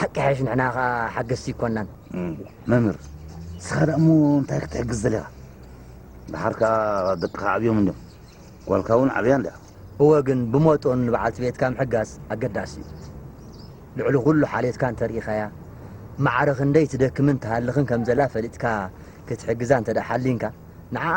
ሓቂ ሓይሽ ንሕና ከኣ ሓገዝቲ ይኮናን። መምህር ንስኻ ደኣ እሞ እንታይ ክትሕግዝ ዘለኻ ደሓር ከኣ ደቅኻ ዓብዮም እንድዮም ጓልካ እውን ዓብያ እንድያ እወ ግን ብመጦን ንበዓልቲ ቤትካ ምሕጋዝ ኣገዳሲ እዩ ልዕሊ ኩሉ ሓልየትካ እንተርኢኻያ ማዕረ ክንደይ ትደክምን ትሃልኽን ከም ዘላ ፈሊጥካ ክትሕግዛ እንተ ሓሊንካ ንዓኣ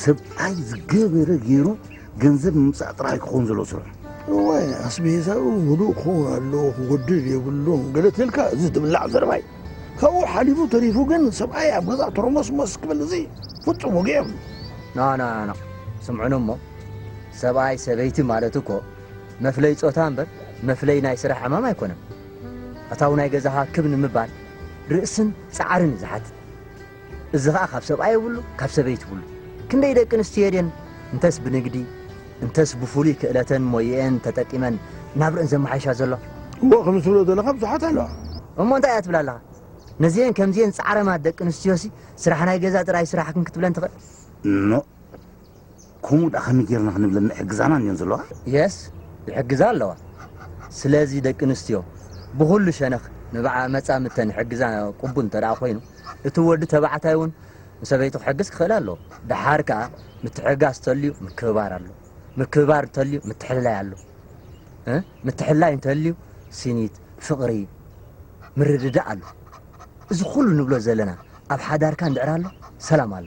ሰብኣይ ዝገበረ ገይሩ ገንዘብ ምምፃእ ጥራሕ ክኸውን ዘለዎ ስርሑ እዋይ ኣስቤዛኡ ህዱእ ክኸውን ኣለዎ ክጎድል የብሉን ገለ ትልካ እዚ ትብላዕ ዘረባይ ካብኡ ሓሊፉ ተሪፉ ግን ሰብኣይ ኣብ ገዛ ተረሞስሞስ ክብል እዚ ፍፁም ወግዒ የብሉ ናናና ስምዑን እሞ ሰብኣይ ሰበይቲ ማለት እኮ መፍለይ ፆታ እምበር መፍለይ ናይ ስራሕ ዕማም ኣይኮነን ኣታው ናይ ገዛኻ ክብ ንምባል ርእስን ፃዕርን እዩ ዝሓትት እዚ ኸኣ ካብ ሰብኣይ ይብሉ ካብ ሰበይቲ ይብሉ። ክንደይ ደቂ ኣንስትዮ ድየን እንተስ ብንግዲ እንተስ ብፍሉይ ክእለተን ሞይኤን ተጠቂመን ናብርኤን ዘመሓይሻ ዘለዋ? እወ ከምዚ ትብሎ ዘለኻ ብዙሓት ኣለዋ። እሞ እንታይ እያ ትብላ ኣለኻ? ነዚኤን ከምዚኤን ጻዕረማት ደቂ ኣንስትዮሲ ስራሕ ናይ ገዛ ጥራይ ስራሕክን ክትብለን ትኽእል? ኖእ! ኮምኡ ድኣ ከመይ ጌርና ክንብለን ይሕግዛና እንድዮን ዘለዋ። Yes ይሕግዛ ኣለዋ ስለዚ ደቂ ኣንስትዮ ብኹሉ ሸነኽ ንብዓኣ መጻምድተን ይሕግዛ ቅቡል እንተ ድኣ ኮይኑ እቲ ወዲ ተባዕታይ እውን ንሰበይቱ ክሕግዝ ክኽእል ኣለዎ። ድሓር ከኣ ምትሕግጋዝ ተልዩ ምክብባር ኣሎ ምክብባር እንተልዩ ምትሕልላይ ኣሎ እ ምትሕልላይ እንተልዩ ሲኒት ፍቕሪ ምርድዳእ ኣሎ እዚ ኩሉ ንብሎ ዘለና ኣብ ሓዳርካ እንድዕር ኣሎ ሰላም ኣሎ።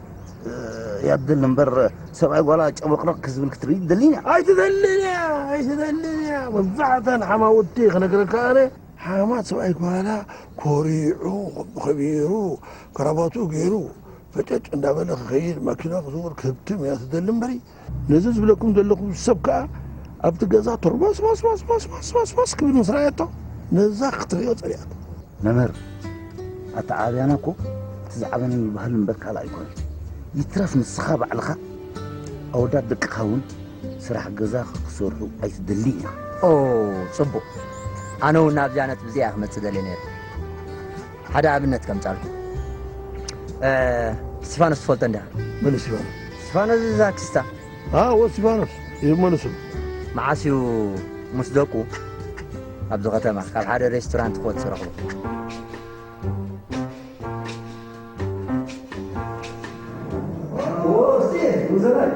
ያድል እምበር ሰብኣይ ጓላ ጨብረቕረቕ ክዝብል ክትርኢ ትደሊን እያ ኣይትደልን እያ ኣይትደልን እያ መብዛሕተን ሓማውቲ ክነግረካ ኣነ ሓማት ሰብኣይ ጓላ ኮሪዑ ከቢሩ ከረባቱ ገይሩ ፈጨጭ እንዳበለ ክኸይድ ማኪና ክዝውር ክህብትም እያ ትደሊ እምበሪ ነዚ ዝብለኩም ዘለኹ ሰብ ከኣ ኣብቲ ገዛ ቶርማስማስማስማስማስማስ ክብል ምስ ረኣየቶ ነዛ ክትሪኦ ጸሊኣቶ። መምህር ኣተዓባብያና እኮ እቲ ዝዓበነ ይበሃል እምበር ካልእ ኣይኮነን። ይትረፍ ንስኻ ባዕልኻ ኣወዳት ደቅኻ እውን ስራሕ ገዛ ክሰርሑ ኣይትደሊ ኢኻ። ኦ ጽቡቕ፣ ኣነ እውን ናብዚኣ ነጥቢ እዚኣ እየ ክመጽእ ደልየ ነይረ። ሓደ ኣብነት ከምጻልኩም እስቲፋኖስ ትፈልጦ እንዲኻ መን እስቲፋኖስ እስቲፋኖስ እዛ ክስታ ኣዎ እስቲፋኖስ እዩ መን ስሙ መዓስ እዩ ምስ ደቁ ኣብዚ ከተማ ካብ ሓደ ሬስቶራንት ክወጽእ ረኽቡ Oh, see, who's alive?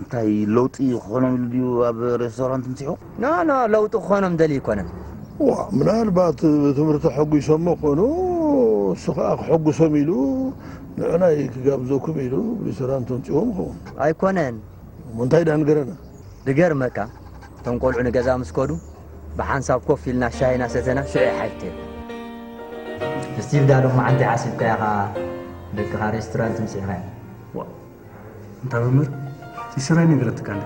እንታይ ለውጢ ክኾኖም ኢሉ ድዩ ኣብ ሬስቶራንት ምፅሑ ኖ ኖ ለውጢ ክኾኖም ደልዩ ኣይኮነን ዋ ምናልባት ብትምህርቲ ሐጒሶሞ ኮኑ እሱ ከዓ ክሐጉሶም ኢሉ ንዕናይ ክጋብዘኩም ኢሉ ሬስቶራንት ኣምፅዎም ይኸውን ኣይኮነን እሞ እንታይ ድኣ ንገረና ድገርመካ እቶም ቆልዑ ንገዛ ምስ ከዱ ብሓንሳብ ኮፍ ኢልና ሻሂ ናሰተና ሽዑ ይሓይተዩ። ስቲቭዳ ሎማዓንቲ ሓሲብካያ ከኣ ደቅኻ ሬስቶራንት ምስዒኻ እንታ መምህር ይስራይ ነገረትካ እንደ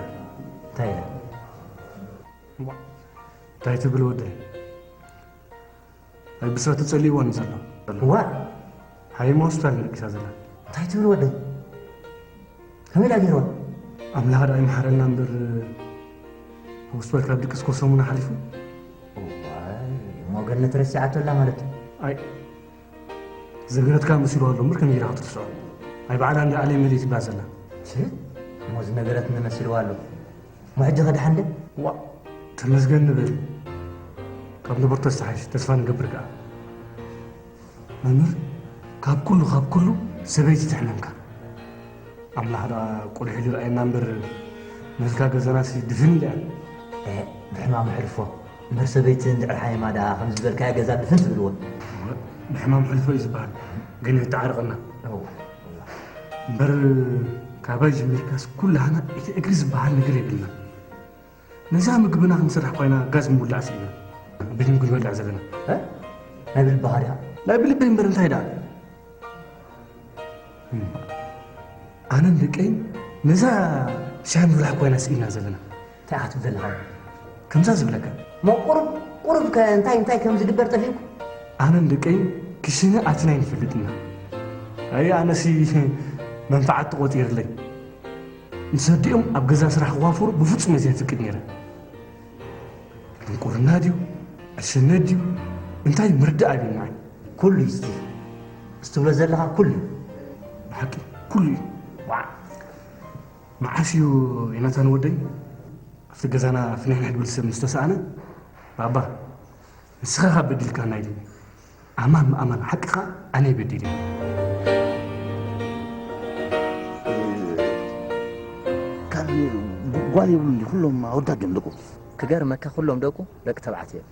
እንታይ ኢለ እንታይ ትብል ወደይ ኣይ ብስራት ተጸሊእዎ ንዘሎ ዋእ ሃይማ ሆስፒታል ነርጊሳ ዘላ እንታይ ትብል ወደይ ከመይ ዳ ገይርዋ ኣምላኽ ድኣ ይምሓረና እምበር ሆስፒታል ካብ ድቅስ ኮ ሰሙን ሓሊፉ ሞገነት ረሲዓቶ ኣላ ማለት እዩ ኣይ ዘገረትካ መሲሉ ኣሎ እምበር ከመይ ጌርካ ክትርስዖ ኣይ በዓላ እንዳ ኣለ መሊእ ትብላ ዘላ እሞዚ ነገረት ንመስልዋ ኣሎ ውሕጅ ኸድሓን ደ ዋእ ተመስገን ንበል ካብ ነበርቶ ዝተሓይሽ ተስፋ ንገብር ከኣ መምህር ካብ ኩሉ ካብ ኩሉ ሰበይቲ ትሕነንካ ኣምላኽ ደኣ ቁልሒ ዝረኣየና እምበር መልካ ገዛናሲ ድፍን ኢላ ብሕማም ሕልፎ እምበር ሰበይቲ እንድዕር ሓየማ ደኣ ከም ዝበልካያ ገዛ ድፍን ትብልዎ ብሕማም ሕልፎ እዩ ዝበሃል ግን ተዓርቕና እምበር ካባይ ጀሚርካስ ኩላህና እቲ እግሪ ዝበሃል ነገር የብልና ነዛ ምግብና ክንስራሕ ኮይና ጋዝ ምውላዕ ስኢና ቤት ምግቢ ንበልዕ ዘለና ናይ ብልቢ ሃሪያ ናይ ብልቢ እምበር እንታይ ደኣ ኣነን ደቀይን ነዛ ሻሂ ምብላሕ ኮይና ስኢና ዘለና እንታይ ኢኻ ትብል ዘለኻ ከምዛ ዝብለካ እሞ ቁሩብ ቁሩብ ከ እንታይ እንታይ ከም ዝግበር ጠፊእኩ ኣነን ደቀይን ክሽነ ኣቲና ኣይንፈልጥና ኣይ ኣነሲ መንፈዓት ተቖፂርለይ ምስ ኣዲኦም ኣብ ገዛ ስራሕ ክዋፈሩ ብፍፁም እየ ዘይፍቅድ ነይረ ድንቁርና ድዩ ዕሽነት ድዩ እንታይ ምርዳእ ኣይብልናን ኩሉ እዩ ስቲ እስትብሎ ዘለኻ ኩሉ እዩ ብሓቂ ኩሉ እዩ ዋዕ መዓስ እዩ ዮናታን ወደይ ኣብቲ ገዛና ፍንሕንሕ ድብል ሰብ ምስ ተሰኣነ ባባ ንስኻ ካብ በዲልካና ኢሉኒ ኣማን ምኣማን ሓቂ ከዓ ኣነይ በዲለኒ ካብ ጓል የብሉን ኩሎም ኣወዳት ድዮም ደቁ ክገርመካ ኩሎም ደቁ ደቂ ተባዕትዮ እዮም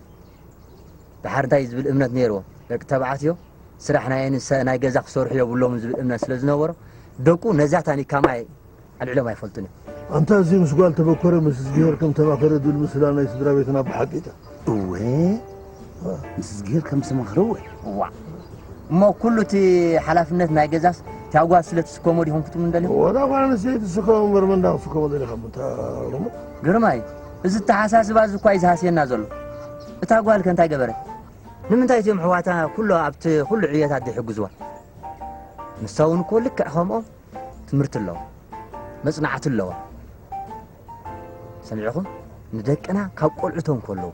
ድሓር እንታይ እዩ ዝብል እምነት ነይርዎም ደቂ ተባዕትዮ ስራሕ ናይ እንሰ ናይ ገዛ ክሰርሑ የብሎምን ዝብል እምነት ስለ ዝነበሮ ደቁ ነዛ ታኒካ ማይ ኣልዒሎም ኣይፈልጡን እዮም። ኣንታ እዚ ምስ ጓል ተበኮረ ምስ ዝግሄር ከም ተማኸረ ዝብል ምስላ ናይ ስድራ ቤትና ብሓቂ ጣ። እወ ምስ ዝግሄር ከም ዝተማኸረ እወ። እዋእ እሞ ኩሉ እቲ ሓላፍነት ናይ ገዛስ እታ ጓል ስለ ትስከሞ ዲኹም ክትምንደልዮም? ወላ ጓል ኣንስተይቲ ትስከሞ እምበር መንዳ ክትስከሞ ደሊኻ ምታ ግርማይ እዚ ተሓሳስባ እዚ እኳ እዩ ዝሃስየና ዘሎ እታ ጓልከ እንታይ ገበረት? ንምንታይ እቲኦም ኣሕዋታ ኩሎ ኣብቲ ኩሉ ዕዮታት ዘይሕግዝዋ? ንሳ እውን እኮ ልክዕ ከምኦም ትምህርቲ ኣለዋ መጽናዕቲ ኣለዋ። ሰሚዕኹም ንደቅና ካብ ቆልዑቶም ከለዉ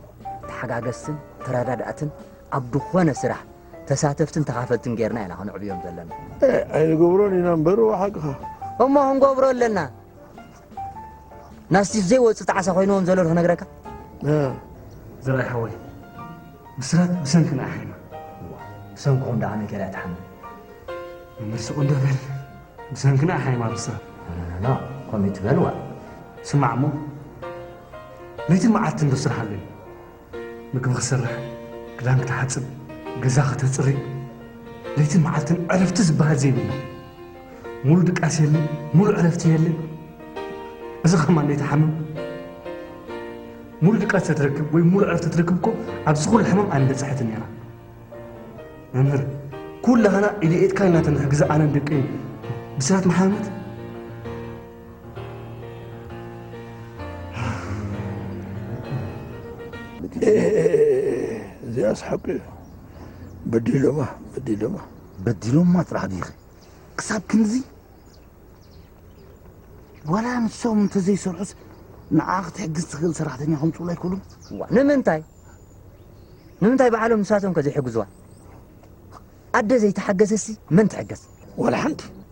ተሓጋገዝትን ተረዳዳእትን ኣብ ዝኾነ ስራሕ ተሳተፍትን ተኻፈልትን ጌርና ኢና ከነዕብዮም ዘለና ኣይንገብሮን ኢና እምበር ሓቅኻ እሞ ክንገብሮ ኣለና ናስቲ ዘይወፅ ጣዕሳ ኮይንዎም ዘሎ ክነግረካ ዘርኣይ ሓወይ ብስራት ብሰንክና ኣሕሪማ ብሰንክኹም ደኣ ኣነ ገይራ ትሓምም መምህር ስቁ እንደበል ብሰንክና ኣሕሪማ ብስራት ና ከምኡ ትበልዋ ስማዕ እሞ ለይትን መዓልትን ዶ ስራሕ ኣለኒ ምግቢ ክሰርሕ፣ ክዳን ክትሓጽብ፣ ገዛ ከተጽሪ ለይትን መዓልትን ዕረፍቲ ዝበሃል ዘይብላ ሙሉ ድቃስ የለ፣ ሙሉ ዕረፍቲ የለ። እዚ ከማን ለይቲ ሓምም ሙሉ ድቃስ ተትረክብ ወይ ሙሉ ዕረፍቲ ትረክብ እኮ ኣብዚ ኩሉ ሕማም ኣይምበጽሐትን ነይራ። መምህር ኩላህና ኢድ ኢድካ ኢና ተንሕግዛ ኣነን ደቀይን ብስራት መሓመድ እዚኣስ ሓቂ እዩ በዲሎማ በዲሎማ በዲሎማ ጥራሕ ዲኺ ክሳብ ክንዚ ዋላ ንሶም እንተዘይሰርሑስ ንዓ ክትሕግዝ ትኽእል ሰራሕተኛ ከምፅኡሉ ኣይክእሉም ንምንታይ ንምንታይ ባዕሎም ንሳቶም ከ ዘይሕግዝዋ ኣደ ዘይተሓገዘሲ መን ትሕገዝ ዋላ ሓንቲ